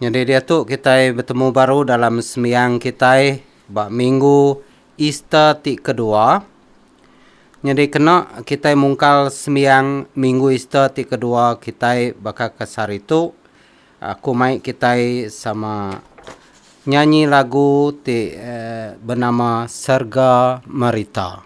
Nyadi diatu kitai betemu baru dalam sembiang kitai ba minggu Easter ti kedua. Nyadi kena kitai mungkal sembiang minggu Easter ti kedua kitai baka ke sehari tu, aku mai kitai sama nyanyi lagu ti benama Serga Merita.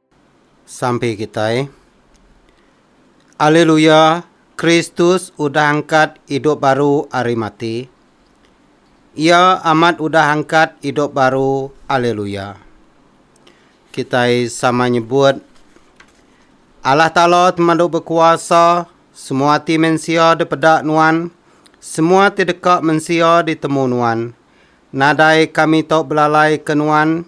Sampi kitai. Aleluya, Kristus udah angkat idup baru ari mati. Iya amat udah angkat idup baru, aleluya. Kitai sama nyebut, Allah Taala temadu bekuasa, semua ati mensia dipeda Nuan, semua ati deka mensia ditemu Nuan. Nadai kami tau belalaika Nuan,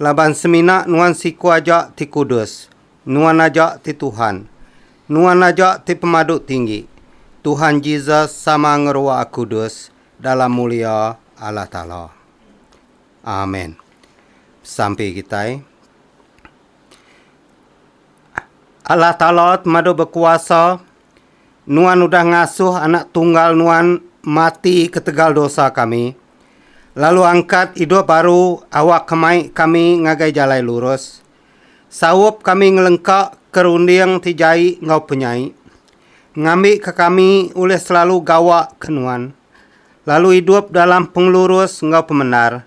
Laban semina Nuan siku aja ti kudus, Nuan aja ti Tuhan. Nuan aja ti Pemadu Tinggi. Tuhan Jesus sama ngeruwa kudus dalam mulia Allah Taala. Amen. Sampi kitai. Allah Taala Temadu Bekuasa Nuan udah ngasuh Anak Tunggal Nuan mati ketegal dosa kami, lalu angkat idup baru awakka mai kami ngagai jalai lurus. Saup kami ngelengka ke runding ti jai enggau penyai, ngambika kami ulih selalu gawa ke Nuan, lalu idup dalam pengelurus enggau pemendar.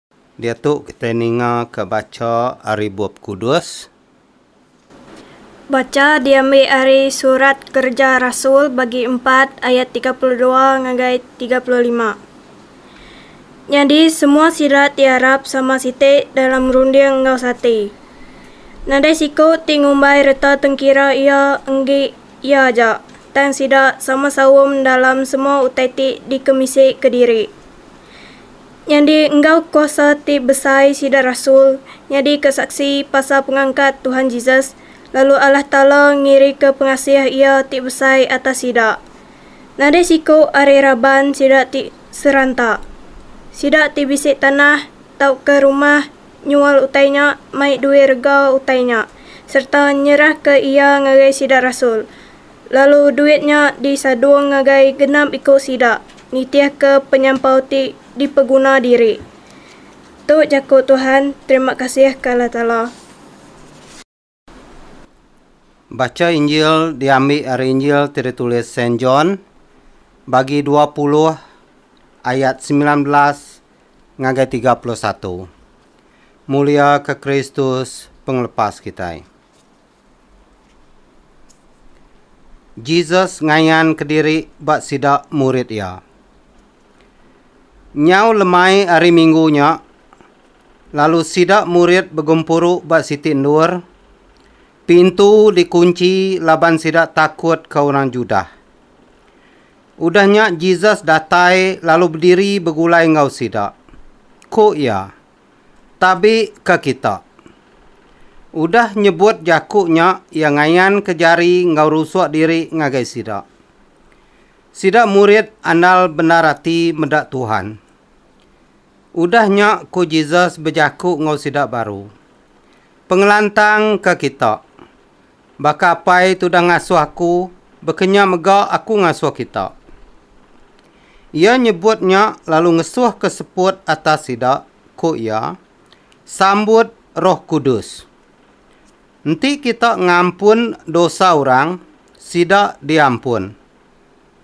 Diatu kitai ninga ka bacha ari Bup Kudus. Bacha diambi ari Surat Kereja Rasul bagi empat ayat tiga puluh dua ngagai tiga puluh lima. Nyadi semua sida ti arap sama siti dalam runding enggau sati. Nadai siku ti ngumbai reta tengkira iya enggi iya aja, tang sida sama saum dalam semua utai ti dikemisi kediri. Nyadi enggau kuasa ti besai sida rasul nyadika saksi pasal pengangkat Tuhan Jesus, lalu Allah Taala ngirika pengasih Iya ti besai atas sida. Nadai siku ari raban sida ti seranta. Sida ti bisi tanah tauka rumah nyual utai nya mai duit rega utai nya sereta nyerahka iya ngagai sida rasul. Lalu duit nya disadung ngagai genap iku sida nitihka penyampau ti dipeguna diri. Tu jaku Tuhan, terima kasih ke Allah Taala. Bacha Injil diambi ari Injil ti ditulis Saint John, bagi dua puluh ayat semilan belas ngagai tiga puluh satu. Mulia ke Kristus Pengelepas kitai. Jesus ngayan kediri ba sida murid iya. Nyau lemai ari minggu nya, lalu sida murid begempuru ba siti endur, pintu dikunchi laban sida takut ke orang Judah. Udah nya Jesus datai lalu bediri begulai enggau sida. Ku iya. Tabi ka kita. Udah nyebut jaku nya iya ngayanka jari enggau rusuk diri ngagai sida. Sida murid andal bendar ati meda Tuhan. Udah nya ku Jesus bejaku enggau sida baru, Pengelantang ka kita. Baka apai tudah ngasuh aku bekenya mega aku ngasuh kita. Iya nyebut nya lalu ngesuhka seput atas sida, ku iya, Sambut Roh Kudus. Enti kita ngampun dosa orang, sida diampun.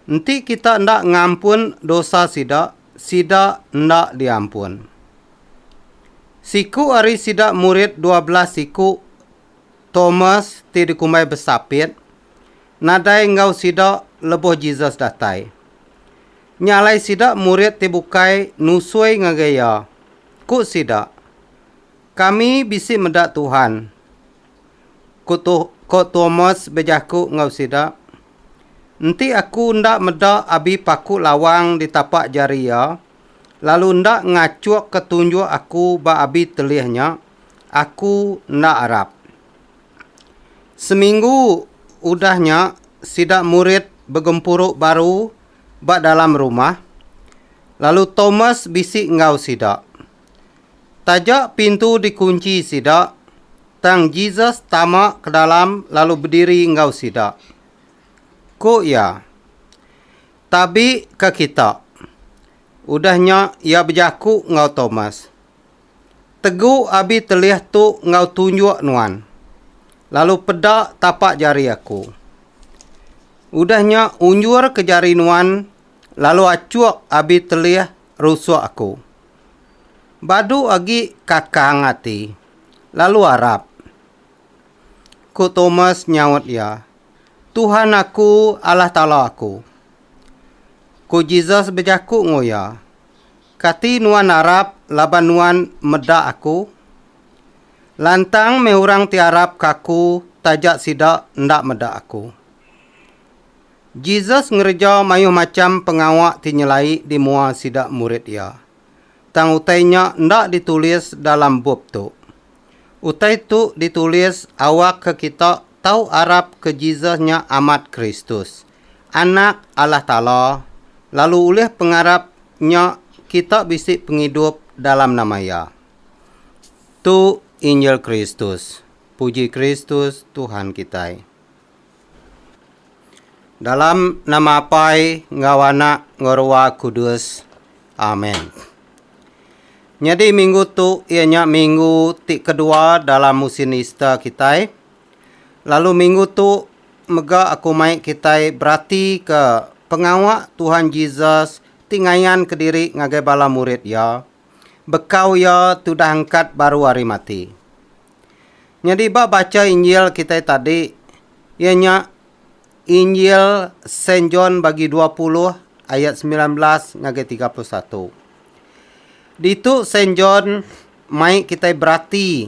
Enti kita enda ngampun dosa sida, sida enda diampun. Siku ari sida murid dua belas siku Tomas ti dikumbai Besapit, nadai enggau sida lebuh Jesus datai. Nya alai sida murid ti bukai nusui ngagai iya. Ku sida, Kami bisi meda Tuhan. Ku to ko Tomas bejaku enggau sida, Enti aku enda meda abi paku lawang di tapak jari iya, lalu enda ngachukka tunjuk aku ba abi telih nya, Aku enda arap. Seminggu udah nya sida murid begempuru baru ba dalam rumah, lalu Tomas bisi enggau sida. Taja pintu dikunchi sida, tang Jesus tama ke dalam lalu bediri enggau sida. Ku iya, Tabi ka kita. Udah nya iya bejaku enggau Tomas. Tegu abi telih tu enggau tunjuk nuan, lalu peda tapak jari Aku. Udah nya unjurka jari nuan lalu achuk abi telih rusuk Aku. Badu agi kakang ati, lalu arap. Ku Tomas nyaut iya, Tuhan aku, Allah Taala aku. Ku Jesus bejaku enggau iya, Kati nuan arap laban nuan meda Aku? Lantang meh orang ti arap ke Aku taja sida enda meda Aku. Jesus ngereja mayuh macham pengawa ti nyelai di mua sida murid Iya, tang utai nya enda ditulis dalam bup tu. Utai tu ditulis awakka kita tau arap ke Jesus nya amat Kristus. Anak Allah Taala, lalu ulih pengarap nya kita bisi pengidup dalam nama Iya. Tu Injil Kristus. Puji Kristus, Tuhan kitai. Dalam nama Apai enggau Anak enggau Rua Kudus. Amen. Nyadi minggu tu iya nya minggu ti kedua dalam musin Easter kitai. Lalu minggu tu mega aku mai kitai beratika pengawa Tuhan Jesus ti ngayanka diri ngagai bala murid iya bekau iya tudah angkat baru ari mati. Nyadi ba bacha Injil kitai tadi, iya nya Injil Saint John bagi dua puluh ayat semilan belas ngagai tiga puluh satu. Ditu Saint John mai kitai berati.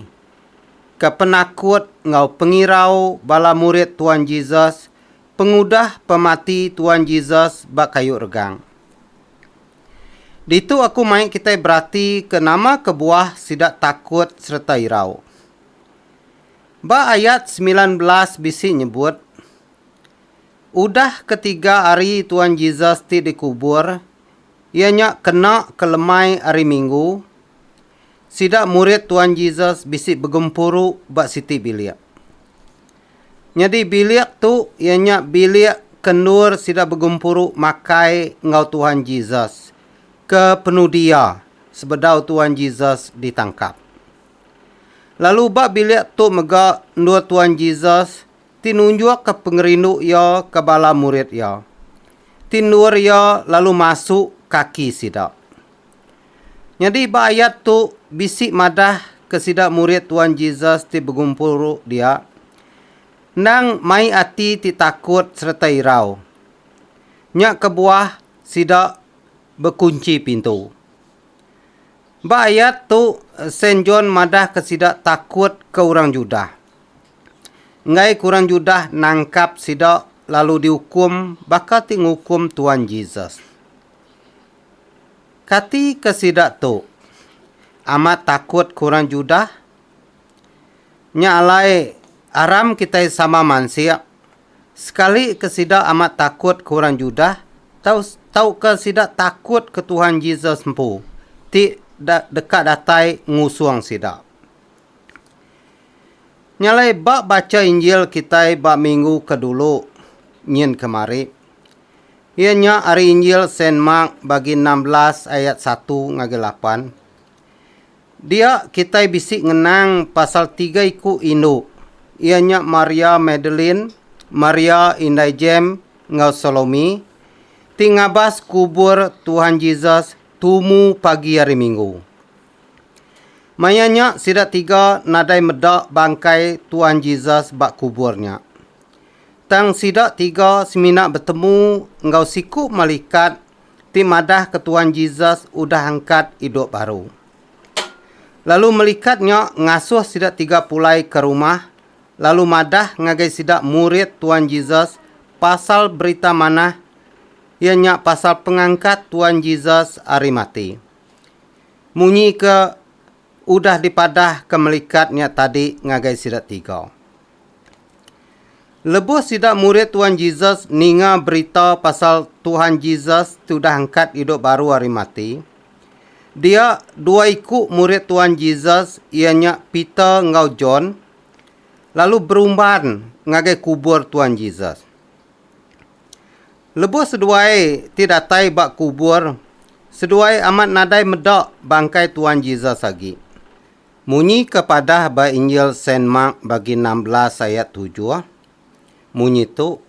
ke penakut enggau pengirau bala murid Tuan Jesus pengudah pemati Tuan Jesus ba kayu regang. Ditu aku mai kitai berati ke nama kebuah sida takut sereta irau. Ba ayat semilan belas bisi nyebut, Udah ketiga hari Tuan Jesus ti dikubur, iya nya kena ke lemai hari Minggu, Sida murid Tuan Jesus bisi begempuru ba siti bilik. Nyadi bilik tu iya nya bilik ke endur sida begempuru makai enggau Tuan Jesus ke penudi iya sebedau Tuan Jesus ditangkap. Lalu ba bilik tu mega endur Tuan Jesus ti nunjukka pengerindu iya ke bala murid iya ti endur iya lalu masu kaki sida. Nyadi ba ayat tu bisi madah ke sida murid Tuan Jesus ti begumpuru dia endang mai ati ti takut sereta irau. Nya kebuah sida bekunchi pintu. Ba ayat tu Saint John madah ke sida takut ke orang Judah. Enggai ke orang Judah nangkap sida lalu diukum baka ti ngukum Tuan Jesus. Kati ke sida tu amat takut ke orang Judah? Nya alai aram kitai sama mansik, sekali ke sida amat takut ke orang Judah tau tauka sida takut ke Tuhan Jesus empu ti deka datai ngusung sida. Nya alai ba bacha Injil kitai ba minggu ke dulu nyin kemari. Iya nya ari Injil Saint Mark bagi enam belas ayat satu ngagai lapan. Dia kitai bisi ngenang pasal tiga iku indu, iya nya Maria Magdalene, Maria indai Jem enggau Salomi ti ngabas kubur Tuhan Jesus tumu pagi hari Minggu. Maya nya sida tiga nadai meda bangkai Tuhan Jesus ba kubur nya. Tang sida tiga semina betemu enggau siku malikat ti madahka Tuan Jesus udah angkat idup baru. Lalu malikat nya ngasuh sida tiga pulai ke rumah lalu madah ngagai sida murid Tuan Jesus pasal Berita Manah iya nya pasal pengangkat Tuan Jesus ari mati. Munyi ke Udah dipadah ke melikat nya tadi ngagai sida tiga. Lebuh sida murid Tuhan Jesus ninga berita pasal Tuhan Jesus ti udah angkat idup baru ari mati, dia dua iku murid Tuhan Jesus iya nya Peter enggau John lalu berumban ngagai kubur Tuhan Jesus. Lebuh seduai ti datai ba kubur, seduai amat nadai meda bangkai Tuan Jesus agi. Munyi ke padah ba Injil Saint Mark bagi enam belas ayat tujuh, munyi tu,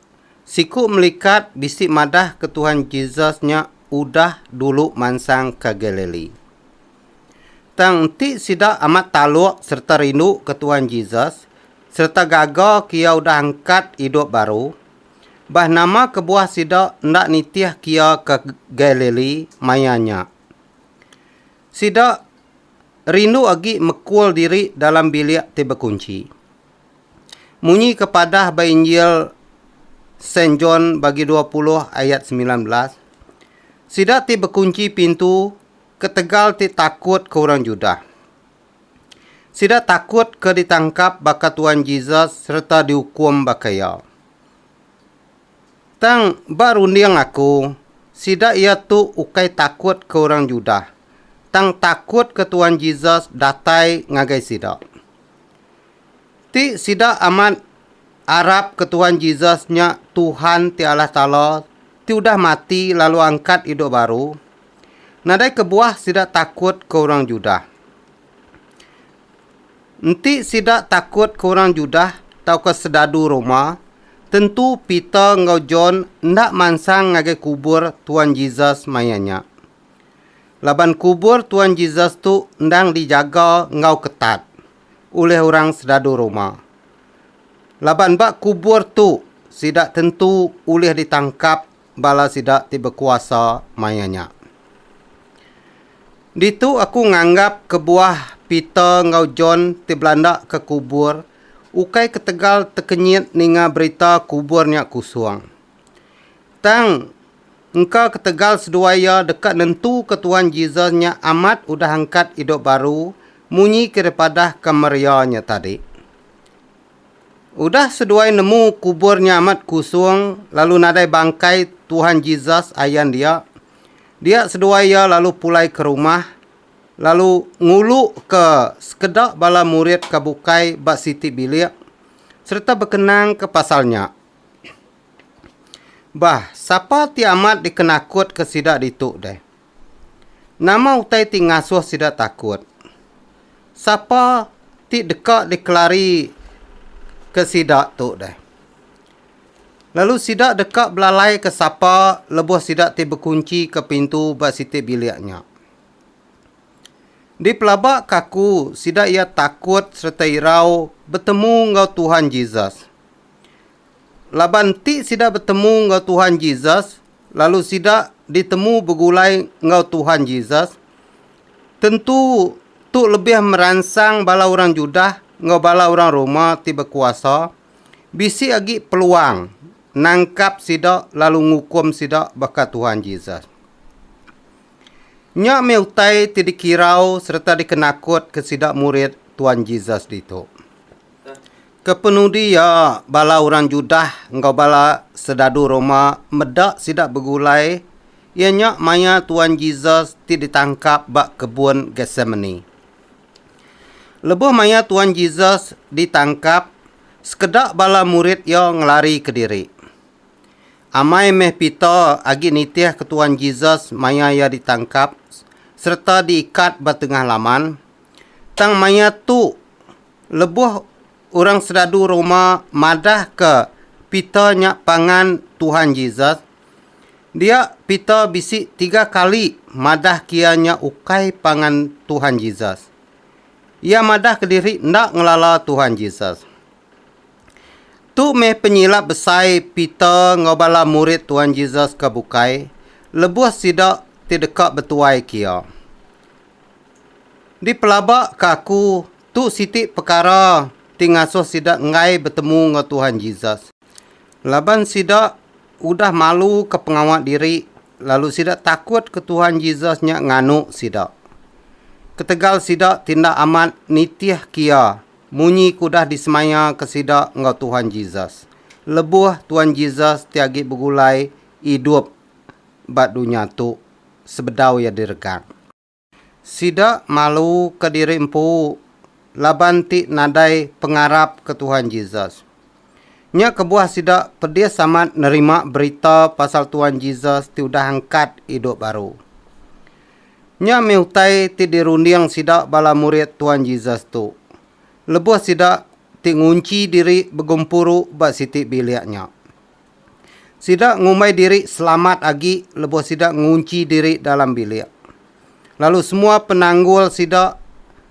Siku melikat bisi madah ke Tuhan Jesus nya udah dulu mansang ke Galili. Tang enti sida amat taluk sereta rinduka Tuan Jesus sereta gaga ke iya udah angkat idup baru, Bah nama kebuah sida enda nitih kia ke Galili maya nya? Sida rindu agi mekul diri dalam bilik ti bekunchi. Munyi ke padah ba Injil Saint John bagi dua puluh ayat semilan belas, Sida ti bekunchi pintu ketegal ti takut ke orang Judah. Sida takut ke ditangkap baka Tuan Jesus sereta diukum baka iya. Tang, ba runding aku, sida iya tu ukai takut ke orang Judah, tang takut ke Tuan Jesus datai ngagai sida. Ti sida amat arap ke Tuan Jesus nya Tuhan ti Allah Taala ti udah mati lalu angkat idup baru, Nadai kebuah sida takut ke orang Judah. Enti sida takut ke orang Judah tauka sedadu Roma, tentu Peter enggau John enda mansang ngagai kubur Tuan Jesus maya nya. Laban kubur Tuan Jesus tu endang dijaga enggau ketat ulih orang sedadu Roma. Laban ba kubur tu sida tentu ulih ditangkap bala sida ti bekuasa maya nya. Ditu aku nganggap kebuah Peter enggau John ti belanda ke kubur ukai ketegal tekenyit ninga berita kubur nya kusung. Tang, engka ketegal seduai iya deka nentuka Tuhan Jesus nya amat udah angkat idup baru munyi ke dipadahka Maria nya tadi. Udah seduai nemu kubur nya amat kusung lalu nadai bangkai Tuhan Jesus ayan dia, dia seduai iya lalu pulai ke rumah lalu nguluka sekeda bala murid ke bukai ba siti bilik sereta bekenangka pasal nya. Bah, sapa ti amat dikenakutka sida ditu deh? Nama utai ti ngasuh sida takut? Sapa ti deka dikelarika sida tu deh? Lalu sida deka belalaika sapa lebuh sida ti bekunchika pintu ba siti bilik nya? Dipelabaka aku sida iya takut sereta irau betemu enggau Tuhan Jesus. Laban ti sida betemu enggau Tuhan Jesus lalu sida ditemu begulai enggau Tuhan Jesus, tentu tu lebih meransang bala orang Judah enggau bala orang Roma ti bekuasa bisi agi peluang nangkap sida lalu ngukum sida baka Tuhan Jesus. Nya meh utai ti dikirau sereta dikenakutka sida murid Tuhan Jesus ditu. Kepenudi iya, bala orang Judah enggau bala sedadu Roma meda sida begulai, iya nya maya Tuan Jesus ti ditangkap ba Kebun Getsemane. Lebuh maya Tuan Jesus ditangkap, sekeda bala murid iya ngelarika diri. Amai meh Peter agi nitihka Tuan Jesus maya iya ditangkap sereta diikat ba tengah laman, tang maya tu Lebuh orang seradu Roma madahka Peter nya pangan Tuhan Jesus, dia Peter bisi tiga kali madah ke iya nya ukai pangan Tuhan Jesus. Iya madah ke diri enda ngelala Tuhan Jesus. Tu meh penyilap besai Peter enggau bala murid Tuhan Jesus ke bukai lebuh sida ti deka betuai ke iya. Dipelaba ke aku, tu siti pekara ti ngasuh sida enggai betemu enggau Tuhan Jesus. Laban sida udah maluka pengawa diri lalu sida takut ke Tuhan Jesus nya nganu sida. Ketegal sida ti enda amat nitihka Iya munyi ke udah disemayaka sida enggau Tuhan Jesus lebuh Tuhan Jesus ti agi begulai idup ba dunya tu sebedau Iya diregang. Sida malu ke diri empu laban ti nadai pengarap ke Tuhan Jesus. Nya kebuah sida pedis amat nerima berita pasal Tuhan Jesus ti udah angkat idup baru. Nya meh utai ti dirunding sida bala murid Tuhan Jesus tu, lebuh sida ti ngunchi diri begempuru ba siti bilik nya. Sida ngumbai diri selamat agi lebuh sida ngunchi diri dalam bilik. Lalu semua penanggul sida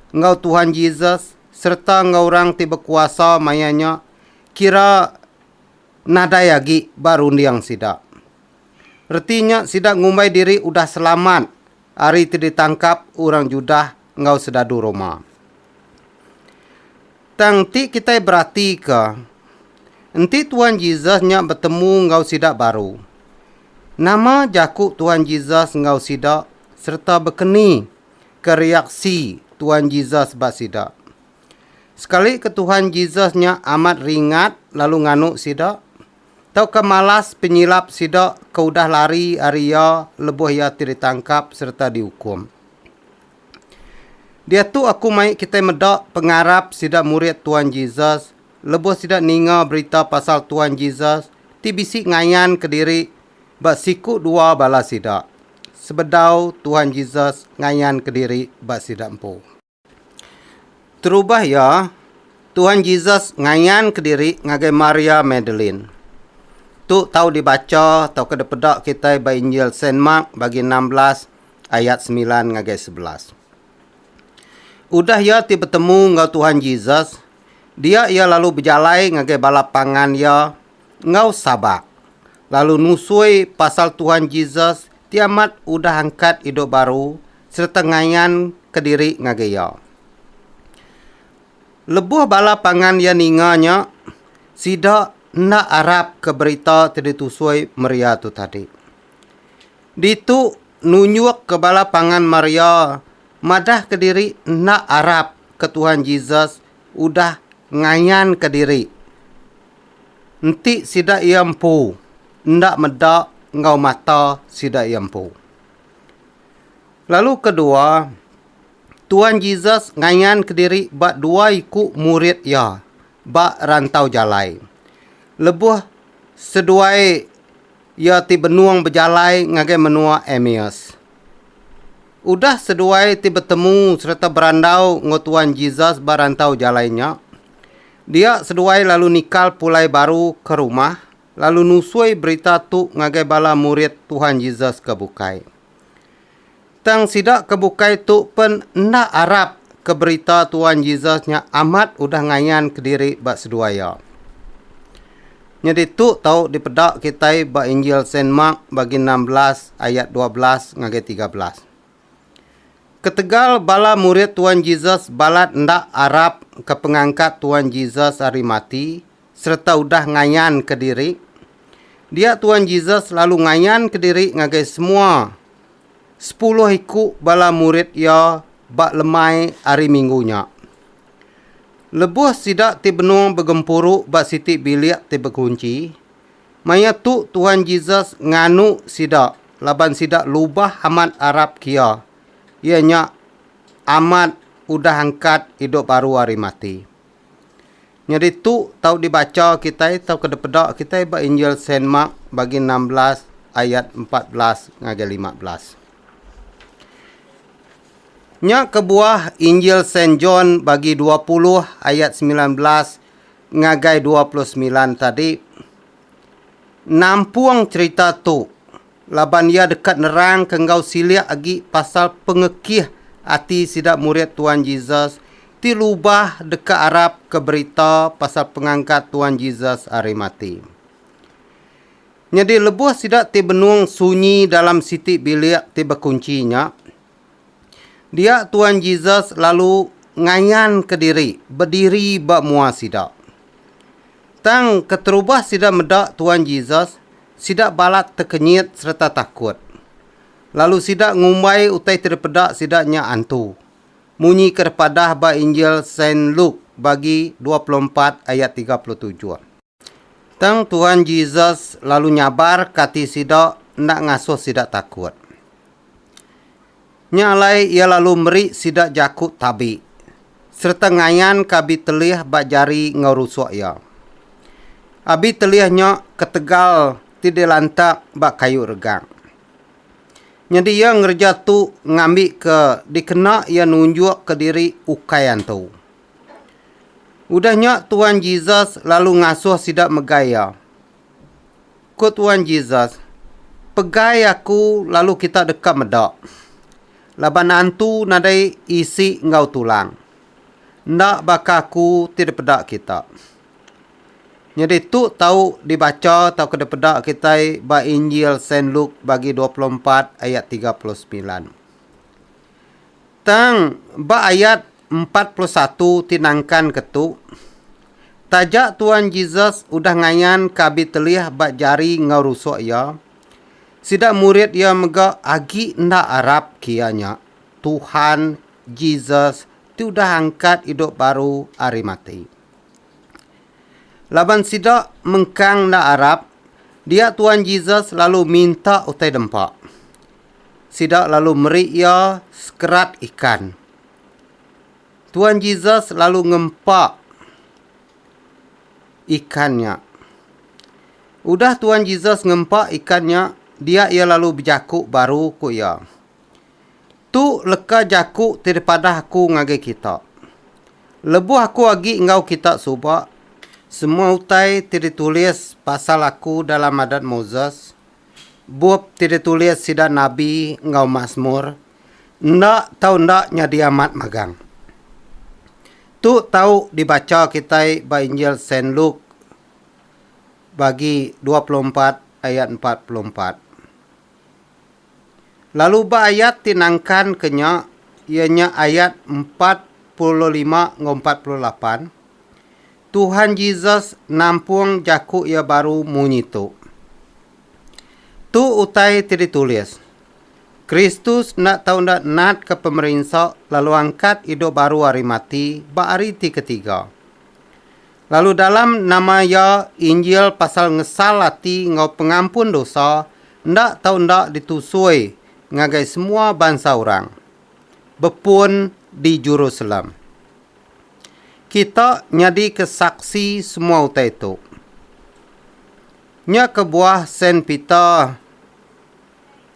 enggau Tuhan Jesus sereta enggau orang ti bekuasa maya nya kira nadai agi ba runding sida. Reti nya sida ngumbai diri udah selamat ari ti ditangkap orang Judah enggau sedadu Roma. Tang ti kitai beratika, enti Tuan Jesus nya betemu enggau sida baru, nama jaku Tuan Jesus enggau sida sereta bekeni ke reaksi Tuan Jesus ba sida? Sekali ke Tuhan Jesus nya amat ringat lalu nganu sida, Tauka malas penyilap sida ke udah lari ari iya lebuh iya ti ditangkap sereta diukum. Diatu aku mai kitai meda pengarap sida murid Tuan Jesus lebuh sida ninga berita pasal Tuan Jesus ti bisi ngayanka diri ba siku dua bala sida sebedau Tuan Jesus ngayanka diri ba sida empu. Terubah iya, Tuhan Jesus ngayanka diri ngagai Maria Magdalene. Tu tau dibacha tauka dipeda kitai ba Injil Saint Mark bagi enam belas ayat semilan ngagai sebelas. Udah iya ti betemu enggau Tuhan Jesus, dia iya lalu bejalai ngagai bala pangan iya enggau Sabak, lalu nusui pasal Tuhan Jesus ti amat udah angkat idup baru sereta ngayan kediri ngagai Iya. Lebuh bala pangan iya ninga nya, sida enda arapka berita ti ditusui Maria tu tadi. Ditu nunjukka bala pangan Maria madah kediri enda arapka Tuhan Jesus udah ngayanka diri Enti sida iya empu enda meda enggau mata sida iya empu. Lalu kedua, Tuan Jesus ngayan kediri ba dua iku murid iya ba rantau jalai. Lebuh seduai iya ti benung bejalai ngagai menua Emmaus. Udah seduai ti betemu sereta berandau enggau Tuan Jesus ba rantau jalai nya, Dia seduai lalu nikal pulai baru ke rumah lalu nusui berita tu ngagai bala murid Tuhan Jesus ke bukai. Tang sida ke bukai tu pen enda arap ke berita Tuhan Jesus nya amat udah ngayan kediri ba seduai iya. Nyadi tu tau dipeda kitai ba Injil Saint Mark bagi enam belas ayat dua belas ngagai tiga belas. Ketegal bala murid Tuan Jesus balat enda arap ke pengangkat Tuan Jesus ari mati sereta udah ngayan ke diri, dia Tuan Jesus lalu ngayan ke diri ngagai semua sepuluh iku bala murid iya ba lemai ari minggu nya. Lebuh sida ti benung begempuru ba siti bilik ti bekunchi, Maya tu Tuhan Jesus nganu sida laban sida lubah amat arap kiya, iya nya amat udah angkat idup baru ari mati. Nyadi tu tau dibacha kitai tauka dipeda kitai ba Injil Saint Mark bagi enam belas ayat empat belas ngagai lima belas. Nya kebuah Injil Saint John bagi dua puluh ayat semilan belas ngagai dua puluh semilan tadi nampung cherita tu laban iya deka nerangka enggau silik agi pasal pengekih ati sida murid Tuan Jesus ti lubah deka arapka berita pasal pengangkat Tuan Jesus ari mati. Nyadi lebuh sida ti benung sunyi dalam siti bilik ti bekunchi nya, Dia Tuan Jesus lalu ngayanka diri bediri ba mua sida. Tang keterubah sida meda Tuan Jesus, sida balat tekenyit sereta takut. Lalu sida ngumbai utai ti dipeda sida nya antu, munyi ke dipadah ba Injil Saint Luke bagi dua puluh empat ayat tiga puluh tujuh. Tang Tuhan Jesus lalu nyabarka ati sida enda ngasuh sida takut. Nya alai iya lalu meri sida jaku tabi sereta ngayanka abi telih ba jari enggau rusuk iya. Abi telih nya ketegal ti dilantak ba kayu regang. Nyadi iya ngereja tu ngambika dikena iya nunjukka diri ukai antu. Udah nya Tuan Jesus lalu ngasuh sida megai iya. Ku Tuan Jesus, Pegai aku lalu kita deka meda. Laban antu nadai isi enggau tulang. Enda baka aku ti dipeda kita. Nyadi tu tau dibacha tauka dipeda kitai ba Injil Saint Luke bagi dua puluh empat ayat tiga puluh semilan. Tang, ba ayat empat puluh satu ti nangkanka tu, taja Tuan Jesus udah ngayan ke abi telih ba jari enggau rusuk iya, sida murid iya mega agi enda arap kia nya Tuhan Jesus ti udah angkat idup baru ari mati. Laban sida mengkang enda arap, dia Tuan Jesus lalu minta utai dempa. Sida lalu meri iya sekerat ikan. Tuan Jesus lalu ngempa ikan nya. Udah Tuan Jesus ngempa ikan nya, dia iya lalu bejaku baru ku iya, Tu leka jaku ti dipadah aku ngagai kita. Lebuh aku agi enggau kita suba, semua utai ti ditulis pasal aku dalam Adat Moses, bup ti ditulis sida nabi enggau Masmur enda tau enda nyadi amat magang. Tu tau dibacha kitai ba Injil Saint Luke bagi dua puluh empat ayat empat puluh empat. Lalu ba ayat ti nangkanka nya iya nya ayat empat puluh lima enggau empat puluh lapan, Tuhan Jesus nampung jaku Iya baru munyi tu. Tu utai ti ditulis, Kristus enda tau enda natka pemerinsa lalu angkat idup baru ari mati ba hari ti ketiga. Lalu dalam nama Iya Injil pasal ngesal ati enggau pengampun dosa enda tau enda ditusui ngagai semua bansa orang, bepun di Jerusalem. Kita nyadika saksi semua utai tu. Nya kebuah Saint Peter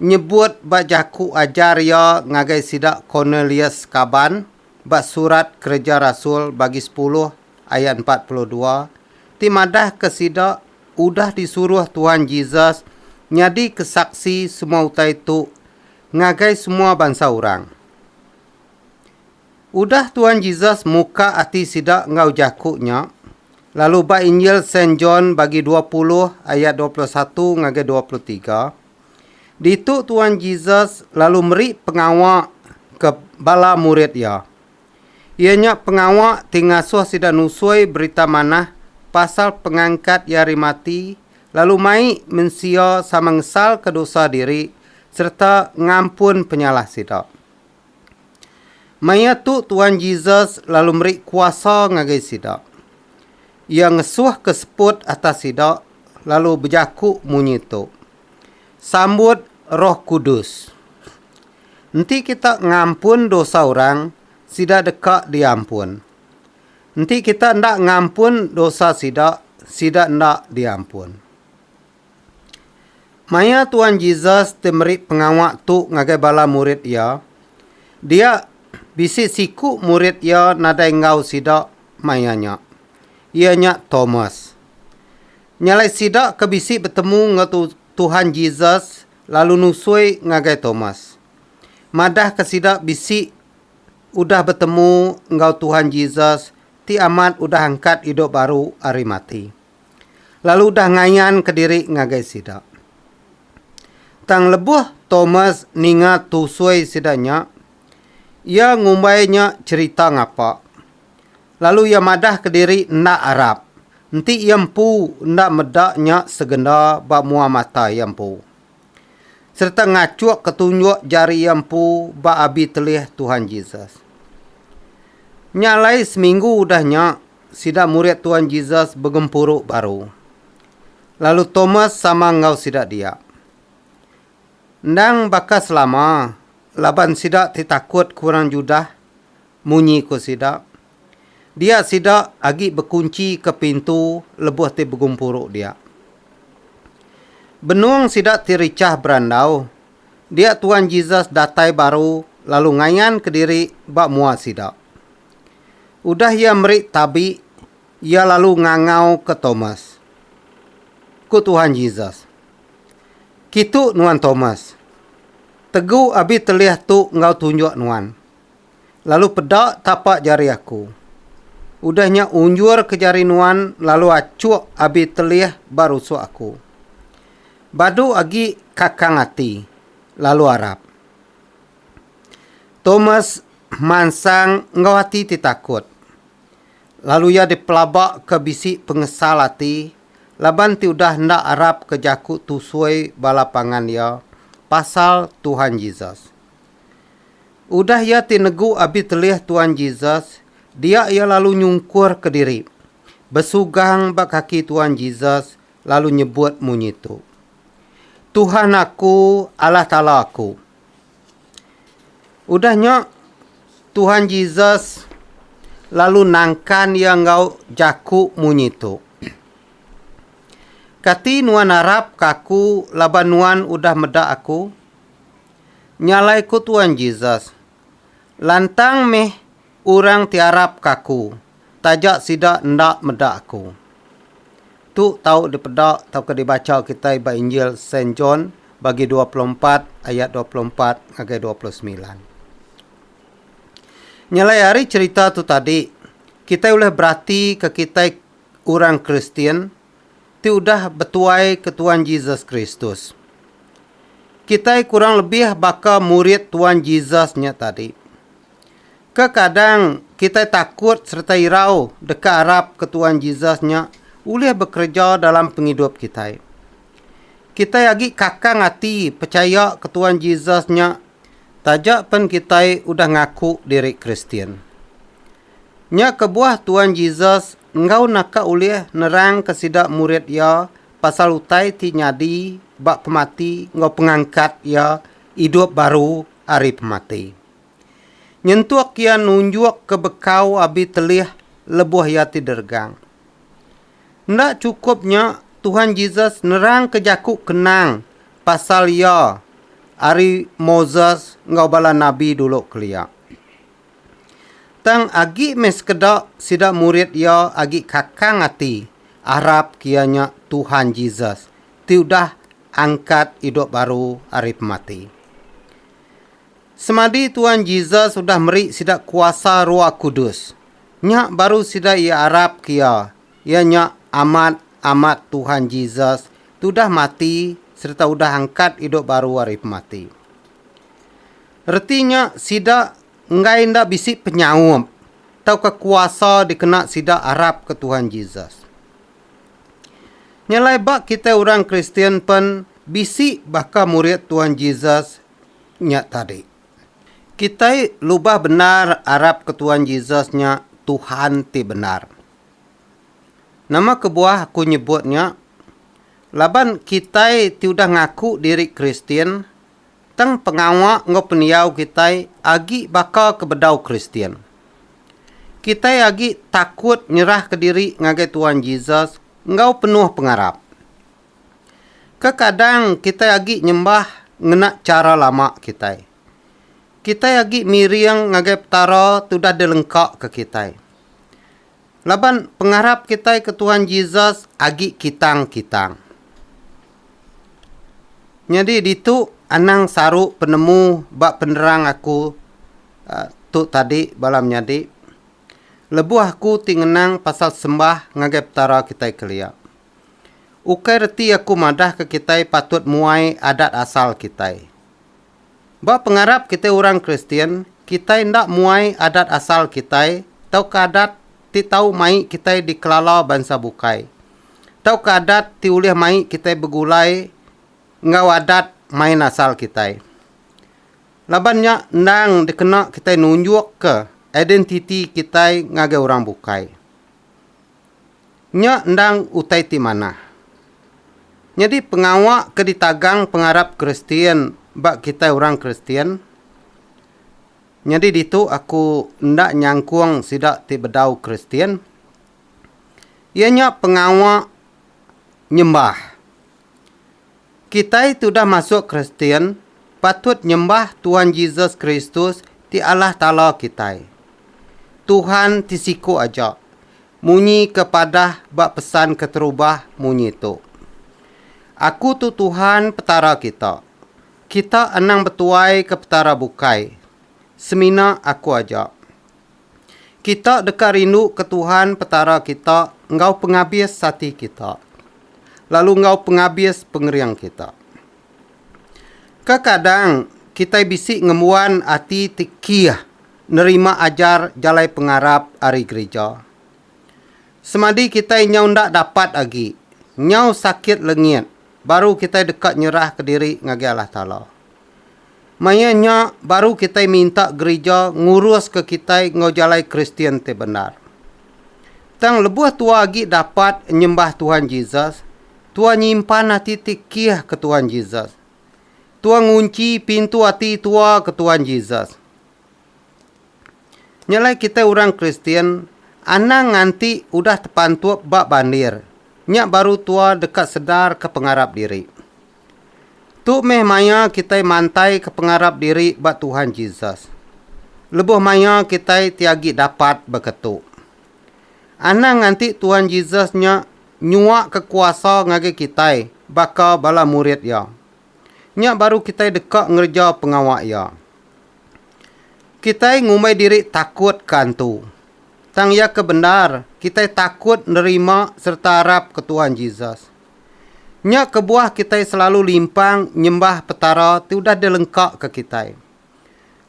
nyebut ba jaku ajar iya ngagai sida Cornelius kaban ba Surat Kereja Rasul bagi sepuluh ayat empat puluh dua ti madahka sida udah disuruh Tuhan Jesus nyadika saksi semua utai tu ngagai semua bansa orang. Udah Tuan Jesus muka ati sida enggau jaku nya, lalu ba Injil Saint John bagi dua puluh ayat dua puluh satu ngagai dua puluh tiga, ditu Tuan Jesus lalu meri pengawa ke bala murid iya. Iya nya pengawa ti ngasuh sida nusui Berita Manah pasal pengangkat iya ari mati lalu mai mensia sama ngesalka dosa diri sereta ngampun penyalah sida. Maya tu Tuan Jesus lalu meri kuasa ngagai sida. Iya ngesuhka seput atas sida lalu bejaku munyi tu, Sambut Roh Kudus. Enti kita ngampun dosa orang, sida deka diampun. Enti kita enda ngampun dosa sida, sida enda diampun. Maya Tuan Jesus ti meri pengawa tu ngagai bala murid iya, dia bisi siku murid iya nadai enggau sida maya nya, iya nya Tomas. Nya alai sida ke bisi betemu enggau Tuhan Jesus lalu nusui ngagai Tomas, madahka sida bisi udah betemu enggau Tuhan Jesus ti amat udah angkat idup baru ari mati. lalu udah ngayanka diri ngagai sida. Tang lebuh Thomas ninga tusui sida nya, iya ngumbai nya cherita ngapa, lalu iya madahka diri enda arap enti iya empu enda meda nya segenda ba mua mata iya empu. sereta ngachukka tunjuk jari iya empu ba abi telih Tuhan Jesus. Nya alai seminggu udah nya, sida murid Tuhan Jesus begempuru baru, lalu Tomas sama enggau sida dia. Endang baka selama, laban sida ti takut ke orang Judah, munyi ku sida, Dia sida agi bekunchi ke pintu lebuh ti begumpuru dia. Benung sida ti richah berandau, dia Tuan Jesus datai baru lalu ngayan kediri ba mua sida. Udah iya meri tabi, iya lalu ngangau ke Thomas. Ku Tuhan Jesus, Kitu nuan Thomas. Tegu abi telih tu enggau tunjuk nuan. lalu peda tapa jari aku. Udah nya unjur ke jari nuan lalu achuk abi telih ba rusuk aku. Badu agi kakang ati lalu arap. Thomas mansang enggau ati ti takut. Lalu iya dipelaba ke bisi pengesal ati laban ti udah enda arap ke jaku tusui bala pangan iya pasal Tuhan Jesus. Udah iya ti negu abi telih Tuan Jesus, dia iya lalu nyungkurka diri, besugang ba kaki Tuan Jesus lalu nyebut munyi tu, Tuhan aku, Allah Taala aku. Udah nya, Tuhan Jesus lalu nangkan iya enggau jaku munyi tu, Kati nuan arapka aku laban nuan udah meda aku? Nya alai ku Tuan Jesus, Lantang meh orang ti arapka Aku, taja sida enda meda Aku. Tu tau dipeda tauka dibacha kitai ba Injil Saint John bagi dua puluh empat ayat dua puluh empat ngagai dua puluh semilan. Nya alai ari cherita tu tadi, kitai ulih beratika kitai orang Kristian, ti udah betuai ke Tuan Jesus Kristus. Kitai kurang lebih baka murid Tuan Jesus nya tadi. Kekadang kitai takut sereta irau deka arap ke Tuan Jesus nya ulih bekereja dalam pengidup kitai. Kitai agi kakang ati pechaya ke Tuan Jesus nya taja pen kitai udah ngaku diri Kristian. Nya kebuah Tuan Jesus enggau naka ulih nerangka sida murid iya pasal utai ti nyadi ba pemati enggau pengangkat iya idup baru ari pemati. Nyentuk iya nunjukka bekau abi telih lebuh iya ti deregang. Enda chukup nya, Tuhan Jesus nerangka jaku kenang pasal iya ari Moses enggau bala nabi dulu kelia. Tang agi meh sekeda sida murid iya agi kakang ati arap iya nya Tuhan Jesus ti udah angkat idup baru ari pemati. Semadi Tuhan Jesus udah meri sida kuasa Roh Kudus, nya baru sida iya arap ke iya, iya nya amat amat Tuhan Jesus ti udah mati sereta udah angkat idup baru ari pemati. Reti nya sida enggai enda bisi penyaup tauka kuasa dikena sida arapka Tuhan Jesus. Nya alai ba kitai orang Kristian pen bisi baka murid Tuhan Jesus nya tadi. Kitai lubah bendar arapka Tuhan Jesus nya Tuhan ti bendar. Nama kebuah aku nyebut nya? Laban kitai ti udah ngaku diri Kristian, Tang pengawa enggau pendiau kitai agi baka ke bedau Kristian. Kitai agi takut nyerahka diri ngagai Tuan Jesus enggau penuh pengarap. Kekadang kitai agi nyembah ngena chara lama kitai. Kitai agi miring ngagai Petara tudah dilengkaka kitai. Laban pengarap kitai ke Tuhan Jesus agi kitang-kitang. Nyadi ditu anang saru penemu ba penerang aku tu tadi bala menyadi, lebuh aku ti ngenang pasal sembah ngagai Petara kitai kelia. Ukai reti aku madahka kitai patut muai adat asal kitai. Ba pengarap kitai orang Kristian, kitai enda muai adat asal kitai tauka adat ti tau mai kitai dikelala bansa bukai, tauka adat ti ulih mai kitai begulai enggau adat main asal kitai. Laban nya endang dikena kitai nunjukka identiti kitai ngagai orang bukai. Nya endang utai ti manah. Nyadi pengawa ke ditagang pengarap Kristian ba kitai orang Kristian nyadi ditu aku enda nyangkung sida ti bedau Kristian iya nya pengawa nyembah. Kitai ti udah masuk Kristian patut nyembah Tuhan Jesus Kristus ti Allah Taala kitai. Tuhan ti siku aja munyi ke padah ba pesan keterubah munyi tu, Aku tu Tuhan Petara kita. Kita anang betuai ke petara bukai, semina Aku aja. Kita deka rinduka Tuhan Petara kita enggau pengabis ati kita, lalu enggau pengabis pengering kita. Kekadang, kitai bisi ngembuan ati ti kih nerima ajar jalai pengarap ari gerija. Semadi kitai nyau enda dapat agi, nyau sakit lengit, baru kitai deka nyerahka diri ngagai Allah Taala. Maya nya baru kitai minta gerija nguruska kitai enggau jalai Kristian ti bendar. Tang lebuh tuah agi dapat nyembah Tuhan Jesus, tuah nyimpan ati ti kih ke Tuhan Jesus. Tuah ngunchi pintu ati tuah ke Tuhan Jesus. Nya alai kitai orang Kristian anang nganti udah tepantup ba bandir, nya baru tuah deka sedarka pengarap diri. Tu meh maya kitai mantaika pengarap diri ba Tuhan Jesus. Lebuh maya kitai ti agi dapat baka tu. Anang nganti Tuhan Jesus nya nyuaka kuasa ngagai kitai baka bala murid Iya. Nya baru kitai deka ngereja pengawa Iya. Kitai ngumbai diri takut ke antu. Tang iya ke bendar, kitai takut nerima sereta arapka Tuhan Jesus. Nya kebuah kitai selalu limpang nyembah Petara ti udah dilengkaka kitai.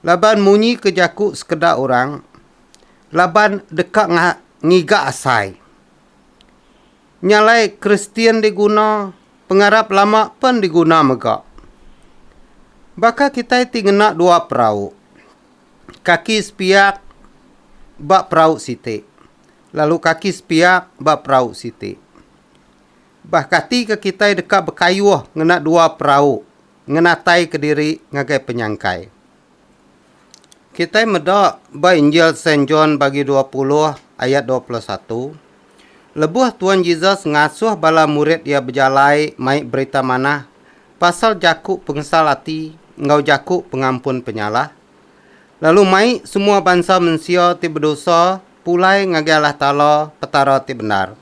Laban munyi ke jaku sekeda orang, Laban deka ngiga asai. Nya alai Kristian diguna, pengarap lama pen diguna mega. Baka kitai ti ngena dua perau, kaki sepiak ba perau siti, lalu kaki sepiak ba perau siti. Bah kati ke kitai deka bekayuh ngena dua perau ngenatai kediri ngagai penyangkai? Kitai meda ba Injil Saint John bagi dua puluh ayat dua puluh satu, Lebuh Tuan Jesus ngasuh bala murid iya bejalai mai Berita Manah pasal jaku pengesal ati enggau jaku pengampun penyalah, lalu mai semua bansa mensia ti bedosa pulai ngagai Allah Taala, Petara ti bendar.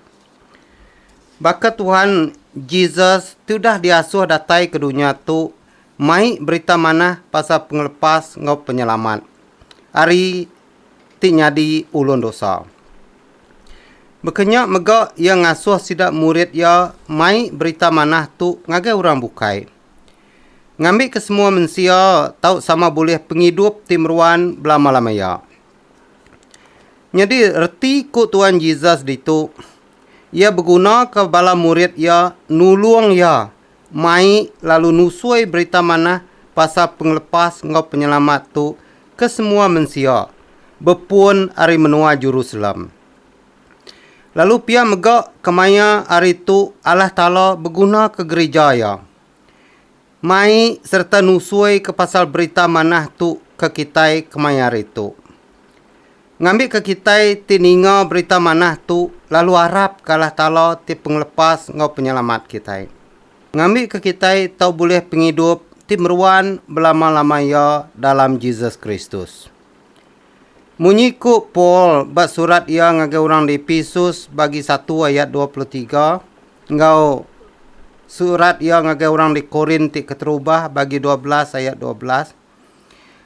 Baka Tuhan, Jesus, ti udah diasuh datai ke dunya tu mai berita manah pasal pengelepas enggau penyelamat ari ti nyadi ulun dosa. Baka nya mega iya ngasuh sida murid iya mai berita manah tu ngagai orang bukai. Ngambika semua mensia tau sama bulih pengidup ti meruan belamalamaia. Nyadi reti ku Tuan Jesus ditu, iya begunaka bala murid iya nulung iya mai lalu nusui Berita Manah pasal pengelepas enggau penyelamat tu ke semua mensia bepun ari menua Jerusalem. Lalu pia mega kemaya hari tu Allah Taala begunaka gerija iya. Mai sereta nusuika pasal berita manah tu ke kitai kemaya hari tu. Ngambika kitai ti ninga berita manah tu lalu arapka Allah Taala ti Pengelepas enggau Penyelamat kitai. Ngambika kitai tau bulih pengidup ti meruan belama-lama iya dalam Jesus Kristus. Munyi ku Paul ba surat iya ngagai orang di Epesus bagi satu ayat dua puluh tiga enggau surat iya ngagai orang di Korint ti keterubah bagi dua belas ayat dua belas,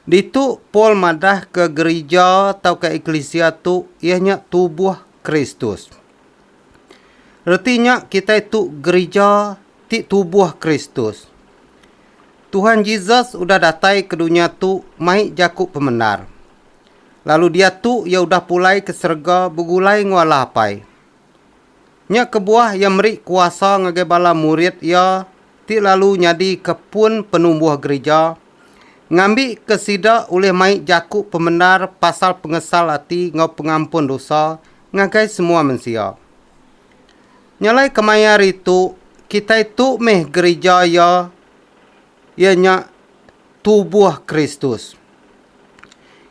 ditu Paul madahka gerija tauka eklisia tu iya nya tubuh Kristus. Reti nya kitai tu gerija ti tubuh Kristus. Tuhan Jesus udah datai ke dunya tu mai jaku pemendar. Lalu diatu iya udah pulai ke serega begulai enggau Allah Apai. Nya kebuah iya meri kuasa ngagai bala murid iya ti lalu nyadika pun penumbuh gerija, ngambika sida ulih mai jaku pemendar pasal pengesal ati enggau pengampun dosa ngagai semua mensia. Nyalai kemaya hari tu, kitai tu meh gerija iya iya nya tubuh Kristus.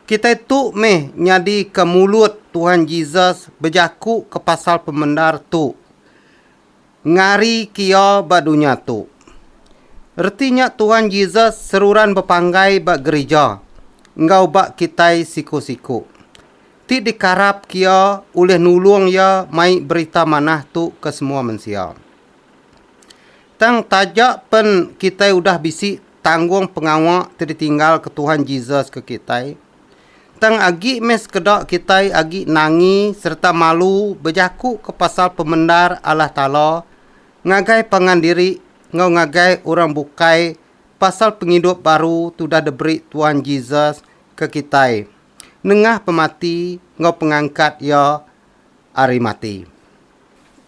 Kitai tu meh nyadika mulut Tuhan Jesus bejakuka pasal pemendar tu ngarika iya ba dunya tu. Reti nya Tuhan Jesus seruran bepanggai ba gerija enggau ba kitai siku-siku ti dikarapka iya ulih nulung iya mai Berita Manah tu ke semua mensia. Tang taja pen kitai udah bisi tanggung pengawa ti ditinggalka Tuhan Jesus ke kitai, tang agi meh sekeda kitai agi nangi sereta malu bejakuka pasal pemendar Allah Taala ngagai pangan diri enggau ngagai orang bukai pasal pengidup baru ti udah diberi Tuhan Jesus ke kitai nengah pemati enggau pengangkat Iya ari mati.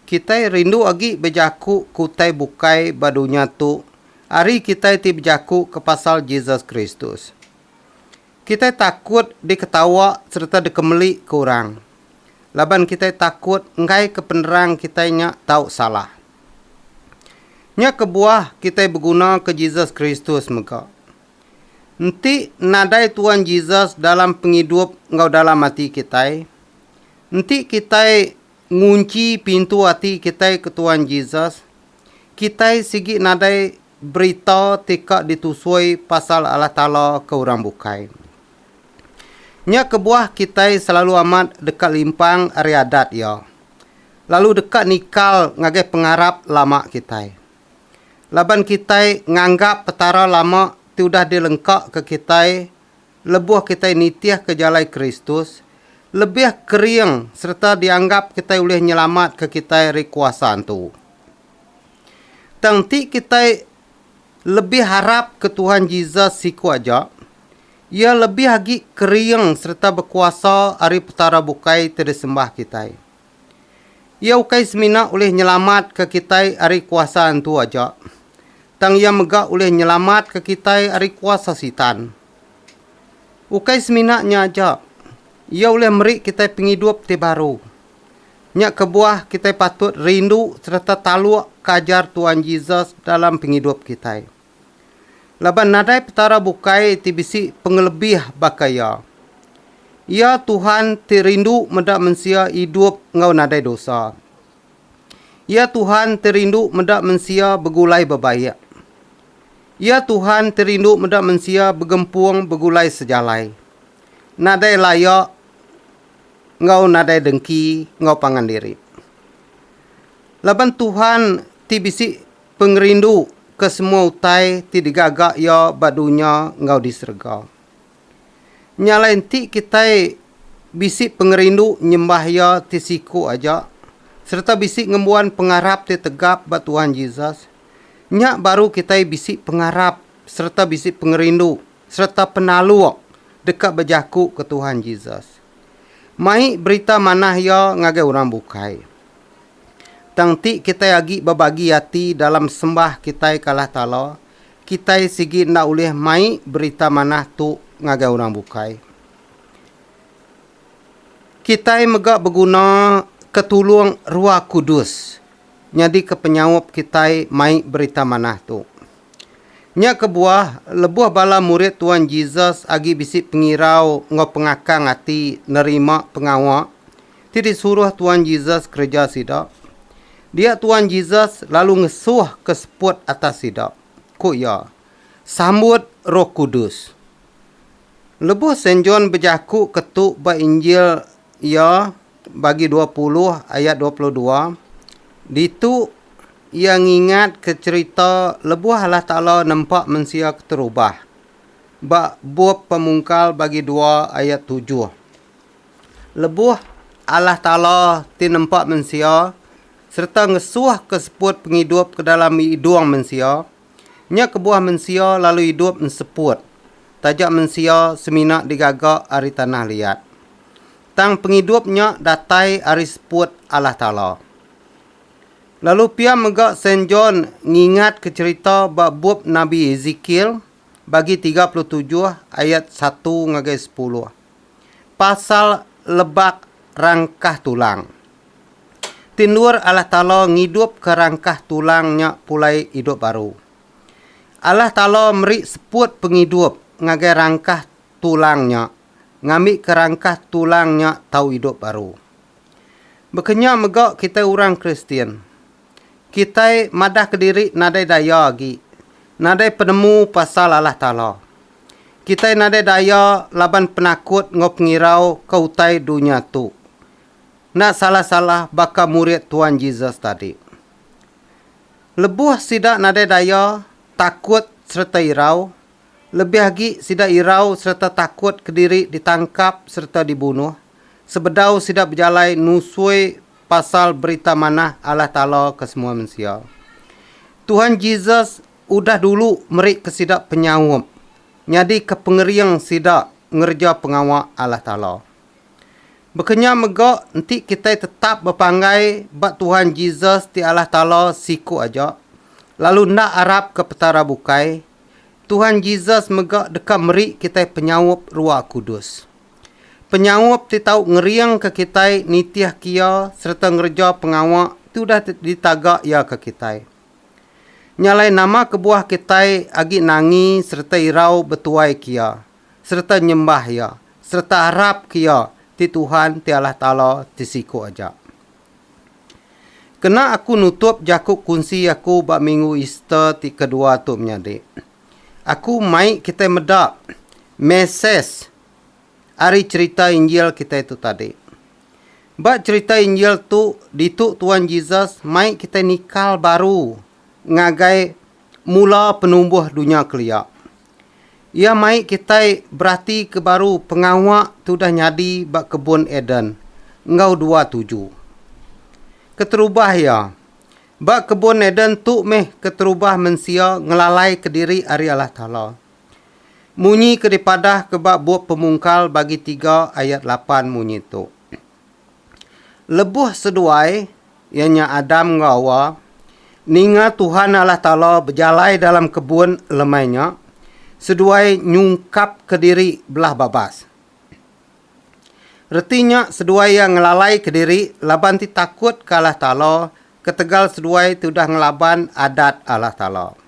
Kitai rindu agi bejaku ke utai bukai ba dunya tu ari kitai ti bejakuka pasal Jesus Kristus. Kitai takut diketawa sereta dikemelika orang laban kitai takut enggaika penerang kitai nya tau salah. Nya kebuah kitai begunaka Jesus Kristus mega. Enti nadai Tuan Jesus dalam pengidup enggau dalam ati kitai, enti kitai ngunchi pintu ati kitai ke Tuan Jesus, kitai sigi nadai berita ti ka ditusui pasal Allah Taala ke orang bukai. Nya kebuah kitai selalu amat deka limpang ari adat Iya, lalu deka nikal ngagai pengarap lama kitai. Laban kitai nganggap Petara lama ti udah dilengkaka kitai lebuh kitai nitihka jalai Kristus, lebih kering sereta dianggap kitai ulih nyelamatka kitai ari kuasa antu. Tang enti kitai lebih harapka Tuhan Jesus siku aja, Iya lebih agi kering sereta bekuasa ari petara bukai ti disembah kitai. Iya ukai semina ulih nyelamatka kitai ari kuasa antu aja, tang iya mega ulih nyelamatka kitai ari kuasa Sitan. Ukai semina nya aja, iya ulih meri kitai pengidup ti baru. Nya kebuah kitai patut rindu sereta taluk ke ajar Tuan Jesus dalam pengidup kitai. Laban nadai Petara bukai ti bisi pengelebih baka Iya. Iya Tuhan ti rindu meda mensia idup enggau nadai dosa. Iya Tuhan ti rindu meda mensia begulai bebaik. Iya Tuhan ti rindu meda mensia begempung begulai sejalai, nadai laya enggau nadai dengki enggau pangan diri. Laban Tuhan ti bisi. pengerindu ke semua utai ti digaga Iya ba dunya enggau di serega. Nya alai enti kitai bisi pengerindu nyembah Iya ti siku aja sereta bisi ngembuan pengarap ti tegap ba Tuhan Jesus, nya baru kitai bisi pengarap sereta bisi pengerindu sereta penaluk deka bejakuka Tuhan Jesus. Mai berita manah Iya ngagai orang bukai. Tang ti kitai agi bebagi ati dalam sembah kitai ke Allah Taala, kitai sigi enda ulih mai Berita Manah tu ngagai orang bukai. Kitai mega beguna ke tulung Rua Kudus nyadika penyaup kitai mai Berita Manah tu. Nya kebuah, lebuh bala murid Tuan Jesus agi bisi pengirau enggau pengakang ati nerima pengawa, Ti disuruh Tuan Jesus kereja sida? Dia Tuan Jesus lalu ngesuh ke seput atas sida. Ku iya, Sambut Roh Kudus. Lebuh Saint John bejaku ke tu ba Injil iya bagi dua puluh ayat dua puluh dua, ditu iya ngingatka cherita lebuh Allah Taala nempa mensia keterubah, ba Bup Pemungkal bagi dua ayat tujuh. Lebuh Allah Taala ti nempa mensia sereta ngesuhka seput pengidup ke dalam idung mensia, nya kebuah mensia lalu idup enseput taja mensia semina digaga ari tanah liat. Tang pengidup nya datai ari seput Allah Taala. Lalu pia mega Saint John ngingatka cherita ba bup Nabi Ezekiel bagi tiga puluh tujuh ayat satu ngagai sepuluh. pasal lebak rangkah tulang. Ti endur Allah Taala ngidupka rangkah tulang nya pulai idup baru. Allah Taala meri seput pengidup ngagai rangkah tulang nya ngambika rangkah tulang nya tau idup baru. Baka nya mega kitai orang Kristian. Kitai madahka diri nadai daya agi, nadai penemu pasal Allah Taala. Kitai nadai daya laban penakut enggau pengirau ke utai dunya tu. Enda salah-salah baka murid Tuan Jesus tadi. Lebuh sida nadai daya takut sereta irau, lebih agi sida irau sereta takut kediri ditangkap sereta dibunuh sebedau sida bejalai nusui pasal Berita Manah Allah Taala ke semua mensia. Tuhan Jesus Udah dulu meri ke sida penyaup nyadika pengering sida ngereja pengawa Allah Taala. Bekenya mega enti kitai tetap bepanggai ba Tuhan Jesus ti Allah Taala siku aja, lalu enda arapka Petara bukai, Tuhan Jesus mega deka meri kitai penyaup Ruah Kudus. Penyaup ti tau ngeringka kitai nitihka Iya sereta ngereja pengawa ti udah ditaga Iya ke kitai. Nya alai nama kebuah kitai agi nangi sereta irau betuai ke Iya, sereta nyembah Iya, sereta arap ke Iya ti Tuhan ti Allah Taala ti siku aja. Kena aku nutup jaku kunsi aku ba minggu Easter ti kedua tu menyadi, aku mai kitai meda mesej ari cherita Injil kitai tu tadi. Ba cherita Injil tu, ditu Tuan Jesus mai kitai nikal baru ngagai mula penumbuh dunya kelia. Iya mai kitai beratika baru pengawa ti udah nyadi ba kebun Eden enggau dua tuju. Keterubah iya, ba kebun Eden tu meh keterubah mensia ngelalaika diri ari Allah Taala. Munyi ke dipadahka ba Bup Pemungkal bagi tiga ayat lapan munyi tu, Lebuh seduai, iya nya Adam enggau Awa, ninga Tuhan Allah Taala bejalai dalam kebun lemai nya, seduai nyungkapka diri belah babas. Reti nya seduai iya ngelalaika diri laban ti takutka Allah Taala ketegal seduai ti udah ngelaban Adat Allah Taala.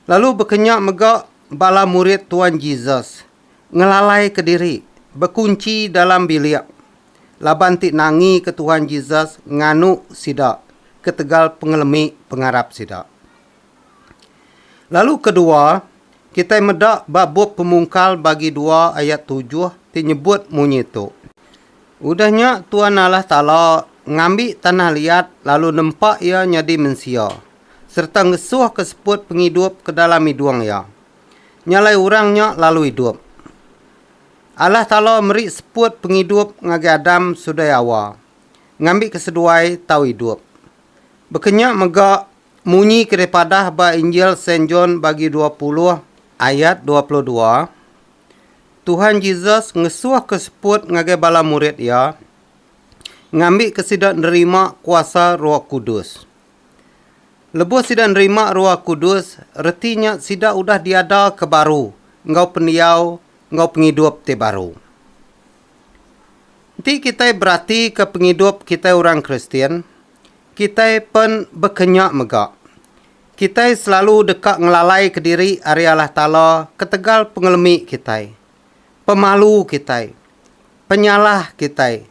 Lalu bekenya mega bala murid Tuan Jesus ngelalaika diri bekunchi dalam bilik laban ti nangika Tuan Jesus nganu sida ketegal pengelemi pengarap sida. Lalu kedua, kitai meda ba bup Pemungkal bagi dua ayat tujuh ti nyebut munyi tu, Udah nya Tuan Allah Taala ngambi tanah liat lalu nempa iya nyadi mensia, sereta ngesuhka seput pengidup ke dalam idung iya. Nya alai orang nya lalu idup. Allah Taala meri seput pengidup ngagai Adam seduai Hawa, ngambika seduai tau idup. Baka nya mega munyi ke dipadah ba Injil Saint John bagi dua puluh ayat dua puluh dua, Tuhan Jesus ngesuhka seput ngagai bala murid iya, ngambika sida nerima kuasa Roh Kudus. Lebuh sida nerima Roh Kudus, reti nya sida udah diadaka baru enggau pendiau enggau pengidup ti baru. Enti kitai beratika pengidup kitai orang Kristian, kitai pen baka nya mega. Kitai selalu deka ngelalaika diri ari Allah Taala ketegal pengelemi kitai, pemalu kitai, penyalah kitai,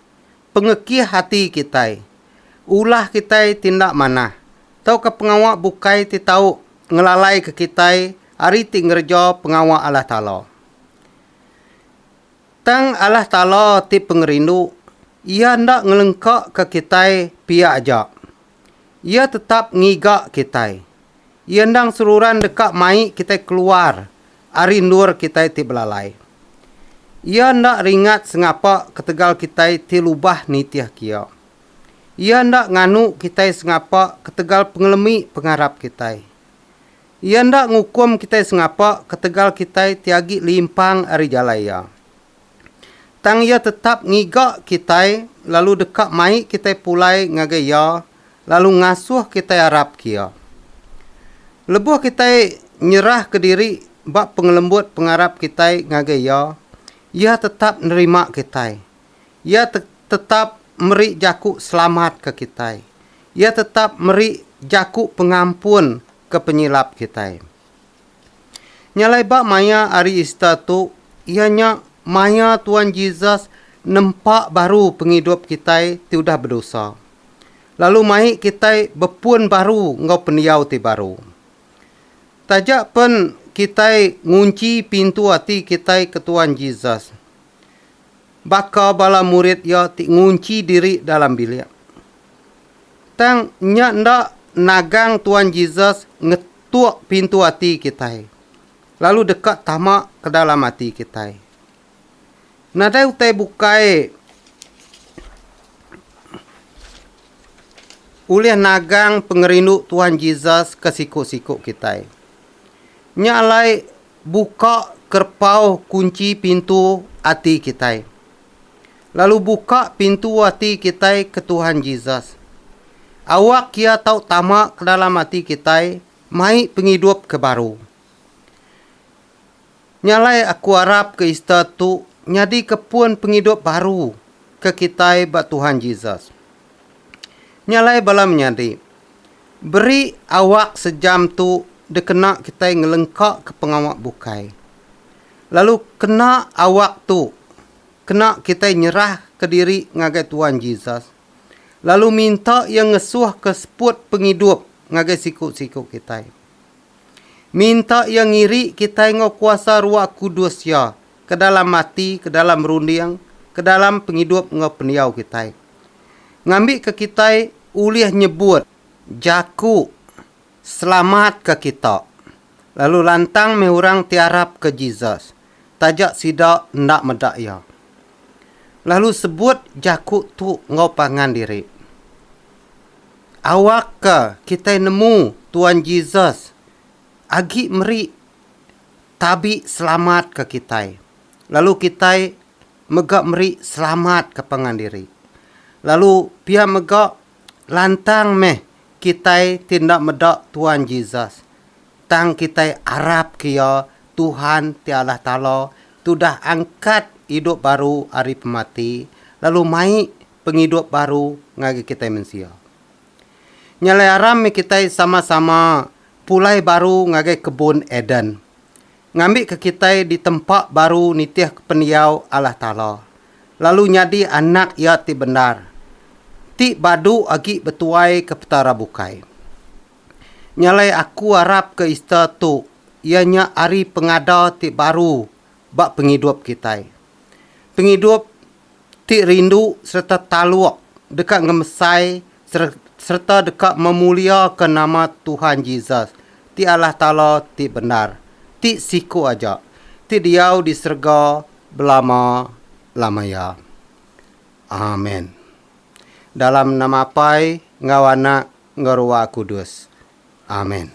pengekih ati kitai, ulah kitai ti enda manah, tauka pengawa bukai ti tau ngelalaika kitai ari ti ngereja pengawa Allah Taala. Tang Allah Taala ti pengerindu, Iya enda ngelengkaka kitai pia aja, Iya tetap ngiga kitai. Iya endang seruran deka mai kitai keluar ari endur kitai ti belalai. Iya enda ringat sengapa ketegal kitai ti lubah nitihka Iya. Iya enda nganu kitai sengapa ketegal pengelemi pengarap kitai. Iya enda ngukum kitai sengapa ketegal kitai ti agi limpang ari jalai Iya. Tang Iya tetap ngiga kitai lalu deka mai kitai pulai ngagai Iya lalu ngasuh kitai arapka Iya. Lebuh kitai nyerahka diri ba pengelembut pengarap kitai ngagai Iya, Iya tetap nerima kitai. Iya te tetap meri jaku selamat ke kitai. Iya tetap meri jaku pengampun ke penyilap kitai. Nya alai ba maya hari Ista tu, iya nya maya Tuan Jesus nempa baru pengidup kitai ti udah bedosa, lalu mai kitai bepun baru enggau pendiau ti baru. Taja pen kitai ngunchi pintu ati kitai ke Tuan Jesus, baka bala murid iya ti ngunchi diri dalam bilik. Tang nya enda nagang Tuan Jesus nge tuk pintu ati kitai, lalu deka tama ke dalam ati kitai. Nadai utai bukai ulih nagang pengerindu Tuhan Jesus ke siku-siku kitai. Nya alai buka kerpau kunchi pintu ati kitai. Lalu buka pintu ati kitai ke Tuhan Jesus. Awak Iya tau tama ke dalam ati kitai mai pengidup ke baru. Nya alai aku arap ke Easter tu nyadika pun pengidup baru ke kitai ba Tuhan Jesus. Nya alai bala menyadi, beri awak sejam tu dikena kitai ngelengkaka pengawa bukai. Lalu kena awak tu. Kena kitai nyerahka diri ngagai Tuan Jesus, lalu minta Iya ngesuhka seput pengidup ngagai siku-siku kitai. Minta Iya ngiri kitai enggau kuasa Ruah Kudus Iya ke dalam ati, ke dalam runding, ke dalam pengidup enggau pendiau kitai, ngambika kitai ulih nyebut jaku. Selamatka kita. Lalu lantang meh orang ti arapka Jesus, taja sida enda meda iya. Lalu sebut jaku tu enggau pangan diri. Awakka kitai nemu Tuan Jesus agi meri tabi selamatka kitai, lalu kitai mega meri selamat ke pangan diri. Lalu pia mega Lantang meh kitai ti enda meda Tuan Jesus, tang kitai arapka iya, Tuhan ti Allah Taala ti udah angkat idup baru ari pemati lalu mai pengidup baru ngagai kitai mensia. Nyalai aram meh kitai sama-sama pulai baru ngagai kebun Eden. ngambika kitai ditempa baru nitihka pendiau Allah Taala, lalu nyadi anak Iya ti bendar, ti badu agi betuaika Petara bukai. Nyalai aku arapka Easter tu iya nya ari pengada ti baru ba pengidup kitai. pengidup ti rindu sereta taluk deka ngemesai sereta deka memuliaka nama Tuhan Jesus, ti Allah Taala ti bendar, ti siku aja, ti diau di serega belama-lama iya. Amen. Dalam nama Apai enggau Anak enggau Ruah Kudus. Amen.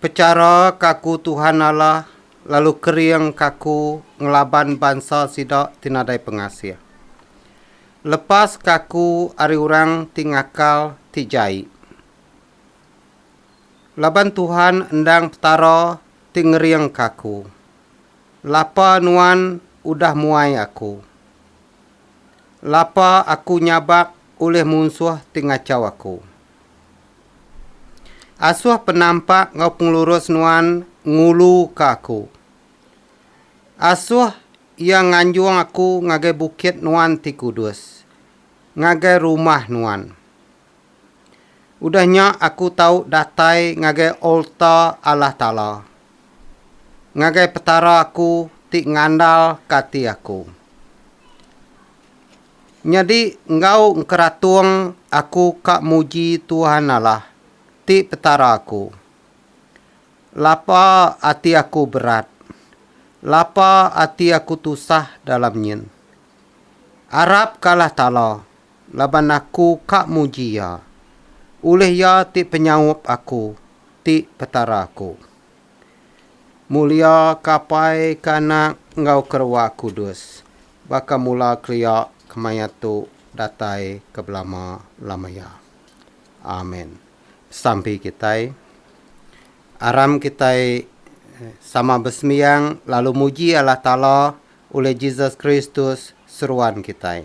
Pechara ke aku Tuhan Allah lalu kering ke aku ngelaban bansa sida ti nadai pengasih. Lepas ke aku ari orang ti ngakal ti jai. Laban Tuhan endang Petara ti ngering ke aku. Lapa nuan udah muai aku. Lapa aku nyabak ulih munsuh ti ngachau aku. Asoh penampak enggau pengelurus nuan ngulu ka aku. Asoh iya nganjong aku ngagai bukit nuan ti kudus, ngagai rumah nuan. Udah nya aku tau datai ngagai alta Allah Taala, ngagai Petara aku ti ngandal ka ati aku. Nyadi enggau engkeratung aku ka muji Tuhan Allah ti Petara aku. Lapa ati aku berat, lapa ati aku tusah dalam nyin. Arap ka Allah Taala laban aku ka muji Iya. Ulih Iya ti penyaup aku ti Petara aku. Mulia kapai ke anak enggau kerewa kudus baka mula kelia kemaya tu datai ke belama lama iya. Amen. Besampi kitai. Aram kitai sama besembiang lalu muji Allah Taala ulih Jesus Kristus seruan kitai.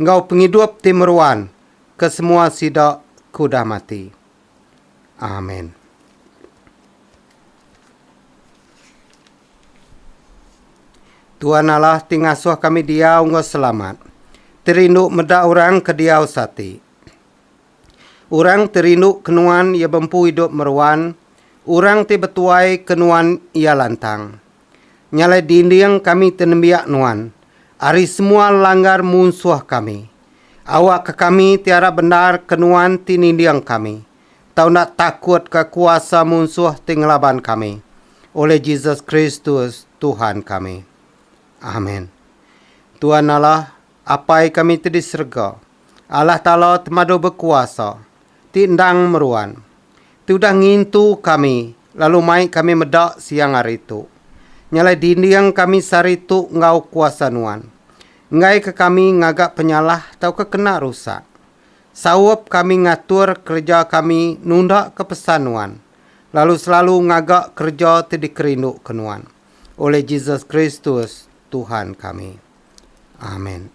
enggau pengidup ti meruan ke semua sida ke udah mati. Amen. Tuan Allah ti ngasuh kami diau enggau selamat, ti rindu meda orang ke diau seati. Orang ti rindu ke nuan iya bempu idup meruan, orang ti betuai ke nuan iya lantang. Nya alai dinding kami ti nembiak nuan, ari semua langgar munsuh kami. Awakka kami ti arap bendar ke nuan ti ninding kami, tau enda takutka kuasa munsuh ti ngelaban kami, oleh Jesus Kristus, Tuhan kami. Amen. Tuan Allah, Apai kami ti di serega, Allah Taala Temadu Bekuasa, ti endang meruan, ti udah ngintu kami lalu mai kami meda siang hari tu. Nyalai dinding kami sehari tu enggau kuasa Nuan. Enggaika kami ngaga penyalah tauka kena rusak. Saup kami ngatur kereja kami nundaka pesan Nuan, lalu selalu ngaga kereja ti dikerinduka Nuan. Olih Jesus Kristus, Tuhan kami. Amen.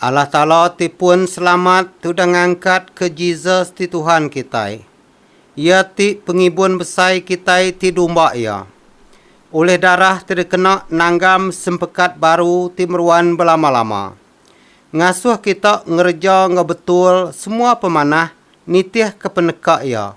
Allah Taala ti pun selamat tudah ngangkat ke Jesus ti Tuhan kitai. Iya ti pengibun besai kitai ti dumba Iya. Ulih darah ti dikena nanggam sempekat baru ti meruan belama-lama. Ngasuh kita ngereja enggau betul semua pemanah nitihka peneka Iya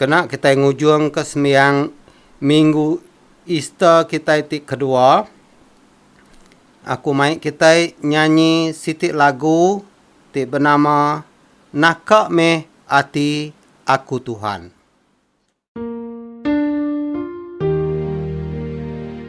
Kena kitai ngujungka sembiang Minggu Easter kitai ti kedua, aku mai kitai nyanyi siti lagu ti benama Naka Meh Ati Aku Tuhan.